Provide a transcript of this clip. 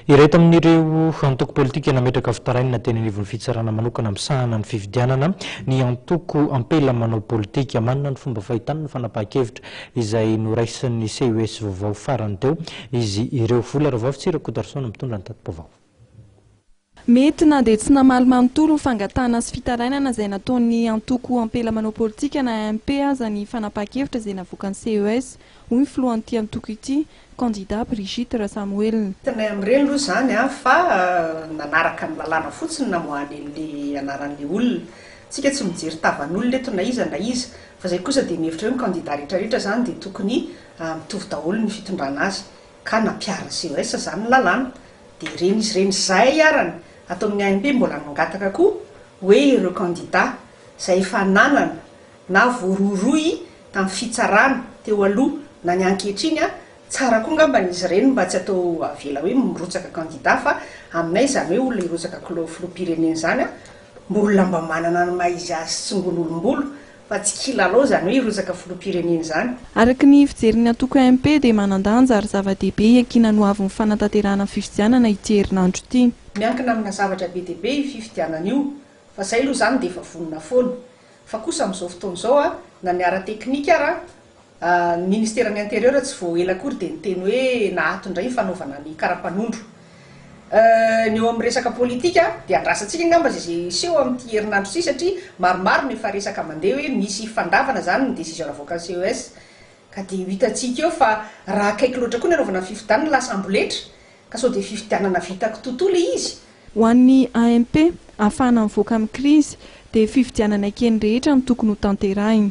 Iray tamin'ireo antoko politika nametraka fitarainana teny anivon'ny fitsarana manokana misahana ny fifidianana ny antoko Ampela manao politika. Manana ny fomba fahitany ny fanapahan-kevitra izay noraisin'ny CES vaovao farany teo izy ireo. Vola Ravafotsy Rakotoarison mitondra ny tati-baovao. Mety na dia tsy namaly manontolo ho fangatahana sy fitarainana izay nataon'ny antoko Ampela manao politika na AMP aza ny fanapahan-kevitra izay navoakan'ny CES, hoy ny filohan'ity antoko ity, Kandida Brigitte Rasamoelina. Tsy nahay amin'ireny aloha izany aho fa nanaraka ny lalàna fotsiny namoahany an'ilay anaran'ilay olona. Isika tsy mijery tavan'olona eto na iza na iza. Fa izay kosa dia mihevitra hoe ny kandida rehetra rehetra izany dia tokony mitovy daholo ny fitondrana azy. Ka nampiharin'ny CES izany ny lalàna. Dia ireny izy ireny izay arany ato amin'ny AMP mbola nangataka koa hoe ireo kandida izay efa nanana na voarohirohy tamin'ny fitsarana teo aloha na ny ankehitriny a, tsara koa ngambany izy ireny mba tsy atao avela hoe mirotsaka kandida fa aminay izany hoe olona hirotsaka klao filoham-pirenena izany a, mba olona mba manana ny maha izy azy tsingolombolo fa tsy kilalao izany hoe hirotsaka filoham-pirenena izany. Araka ny fijerin'ny antoko AMP dia manan-danja ary zava-dehibe hiankina ny ho avin'ny fanatanterahana ny fifidianana ity herinandro ity. Miankina amina zavatra be dia be io fifidianana io fa izay aloha izany dia efa vonona foana. Fa kosa amin'izao fotoana izao a, na ny ara-teknika ara, ny ministeran'ny intérieur tsy vao ela akory dia niteny hoe naato indray ny fanaovana ny karapanondro. Ny eo amin'ny resaka politika dia andrasantsika angamba izay izay hiseho amin'ity herinandro ity satria maromaro no efa resaka mandeha hoe misy fandavana izany ny décision navoakan'ny CES ka dia ho hitantsika eo fa raha akaiky loatra koa ny hanaovana ny fifidianana lasa amboletra Ka sao dia fifidianana vita kitotoa le izy? Ho an'ny AMP, ahafahana mivoaka amin'ny krizy, dia fifidianana ekeny rehetra no tokony hotanterahina.